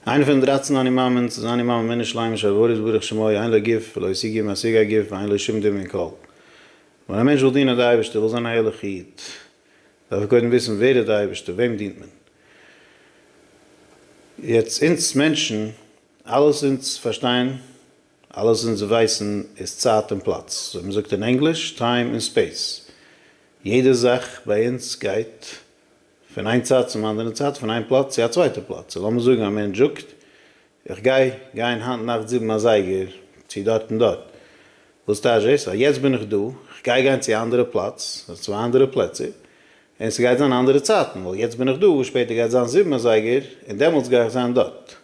איינע פון די דרייצן אני מאמינ'ס איז אני מאמין מינוס שלימות שהבורא יתברך שמו אין לו גוף ולא השיג גוף משיג א גוף ואין לו שום דין מן כל. ווען א מענטש וויל דינען די אייבערשטער וויל זיין א ערליכע איד דארף ער קודם וויסן ווער איז די אייבערשטער וועם דינט מען. יעצט אונז מענטשן אלעס אונז פארשטיין אלעס אונז ווייסן איז צייט און פלאץ אזוי מען זאגט אין ענגליש טיים און ספעיס יעדע זאך ביי אונז גייט פון איין צד צום אנדערן צד, פון איין פלאץ צו א צווייטע פלאץ, און לאמיר זאגן א מענטש זאגט, איך גיי גיין היינט נאכט זיבן אזייגער צו דארט און דארט, וואס טייטש דאס? אז יעצט בין איך דא, איך גיי גיין צו א אנדערע פלאץ, אדער צוויי אנדערע פלעצער, און ס'גייט זיין אנדערע צייטן, ווייל יעצט בין איך דא, שפעטער גייט זיין זיבן אזייגער, און דעמאלטס גיי איך זיין דארט.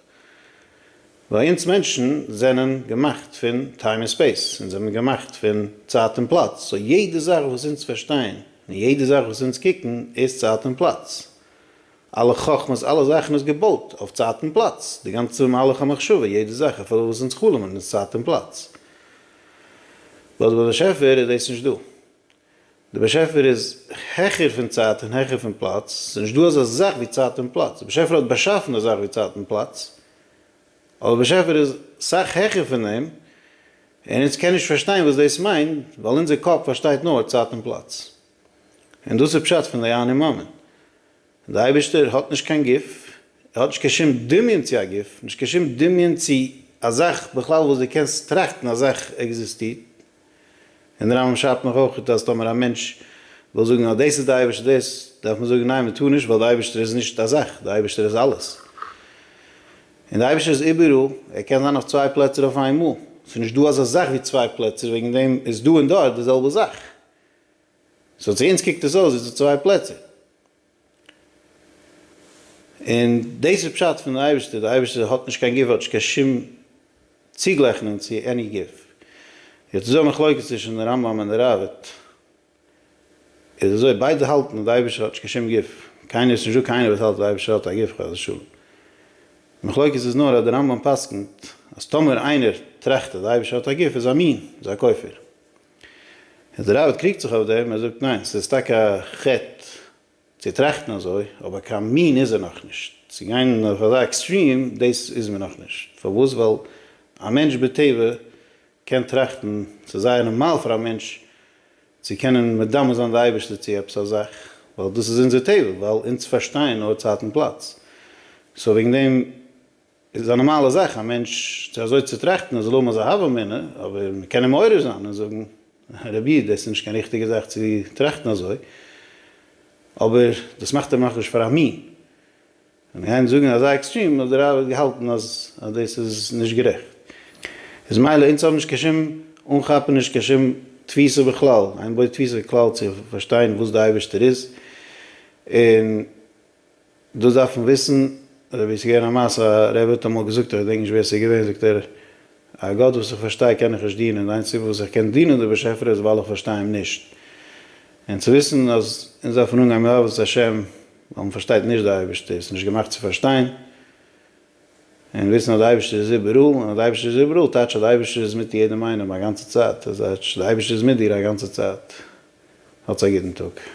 ווייל אונז מענטשן זענען געמאכט פון טיים און ספעיס, אונז זענען געמאכט פון צייט און פלאץ, סאו יעדע זאך וואס אונז פארשטיין און יעדע זאך וואס אונז קוקן איז צייט און פלאץ, אלע חכמות אלע זאכן איז געבויט אויף צייט און פלאץ, די גאנצע מהלך המחשבה יעדע זאך אפילו וואס אונז חלומ'ן איז צייט און פלאץ, לויט די באשעפער איז דאס נישט דא. דער באשעפער איז העכער פון צייט און העכער פון פלאץ, עס איז נישט דא אזא זאך ווי צייט און פלאץ, דער באשעפער האט באשאפן די זאך ווי צייט און פלאץ, אבער דער באשעפער איז סאך העכער פון דעם, און אונז קען נישט פארשטיין וואס דאס מיינט, ווייל אונזער קאפ פארשטייט נאר צייט און פלאץ, און דאס איז פשט פון די אני מאמין, און דער אייבערשטער האט נישט קיין גוף, ער האט נישט קיין שום דמיון צו א גוף, נישט קיין שום דמיון צו א זאך בכלל וואס דו קענסט טראכטן א זאך עקזיסטירט, און דער רמב ם שרייבט נאך אויך אז טאמער א מענטש וויל זאגן אז דאס איז דער אייבערשטער דאס דארף מען זאגן ניין מען טאר נישט ווייל דער אייבערשטער איז נישט א זאך, דער אייבערשטער איז אלעס, און דער אייבערשטער איז איבעראל, ער קען זיין אויף צוויי פלעצער אויף איינמאל, ס'איז נישט דא אזא זאך ווי צוויי פלעצער וועגן דעם איז דא און דארט די זעלבע זאך. סאו צו אונז קוקט עס אויס ווי ס'איז צוויי פלעצער. און דאס איז פשט פון די אייבערשטער, די אייבערשטער האט נישט קיין גוף, האט נישט קיין שום צוגלייכענונג צו עני גוף. יעצט איז דא א מחלוקת צווישן די רמב ם און די ראבד, איז אזוי ביידע האלטן אז די אייבערשטער האט נישט קיין שום גוף, קיינער איז נישט דא קיינער וואס האלט אז די אייבערשטער האט א גוף חס ושלום. די מחלוקת איז נאר אז די רמב ם פסק'נט אז טאמער איינער טראכט אז די אייבערשטער האט א גוף איז א מין, איז א כופר. דער רבי קריגט זיך אויף דעם, ער זאגט ניין, ס'איז טאקע א חטא צו טראכטן אזוי, אבער קיין מין איז ער נאכנישט, צו גיין אויף אזא עקסטרים, דאס איז מען נאכנישט, פארוואס? ווייל א מענטש בטבע קען טראכטן, ס'איז זייער נארמאל פאר א מענטש צו קענען מדמה זיין די אייבערשטער צו עפעס א זאך, ווייל דאס איז אונזער טבע, ווייל אונז פארשטייען נאר צייט און פלאץ, סאו וועגן דעם עס איז א נארמאלע זאך א מענטש צו אזוי צו טראכטן ער זאל האבן אזא הוה אמינא, אבער מען קען אים מעורר זיין און זאגן רבי דאס איז נישט קיין ריכטיגע זאך צו טראכטן אזוי, אבער דאס מאכט אים נאכנישט פאר א מין, און גיין זאגן אזא עקסטרים אז דער רבי האט געהאלטן אז דאס איז נישט גערעכט, איז מילא אונז האבן נישט קיין שום אנכאפעניש קיין שום תפיסה בכלל, איינער בויט תפיסה כלל צו פארשטיין וואס דער אייבערשטער איז און. דאס דארף מען וויסן, רבי ס'איז געווען א מעשה, א רבי האט אמאל געזאגט, איך געדענק נישט ווער ס'איז געווען, זאגט ער, א גאט וואס איך פארשטיי קען איך נישט דינען, די איינציגסטע סיבה וואס איך קען דינען די באשעפער איז ווייל איך פארשטיי אים נישט. און צו וויסן אז אונז דארף מען אנגיין מיט אהבת השם, ווייל מען פארשטייט נישט די אייבערשטער, עס איז נישט געמאכט צו פארשטיין, און וויסן אז די אייבערשטער איז איבעראל, און אז די אייבערשטער איז איבעראל טייטש אז די אייבערשטער איז מיט יעדעם איינעם א גאנצע צייט, אז טייטש די אייבערשטער איז מיט דיר א גאנצע צייט. האטס א גוטן טאג.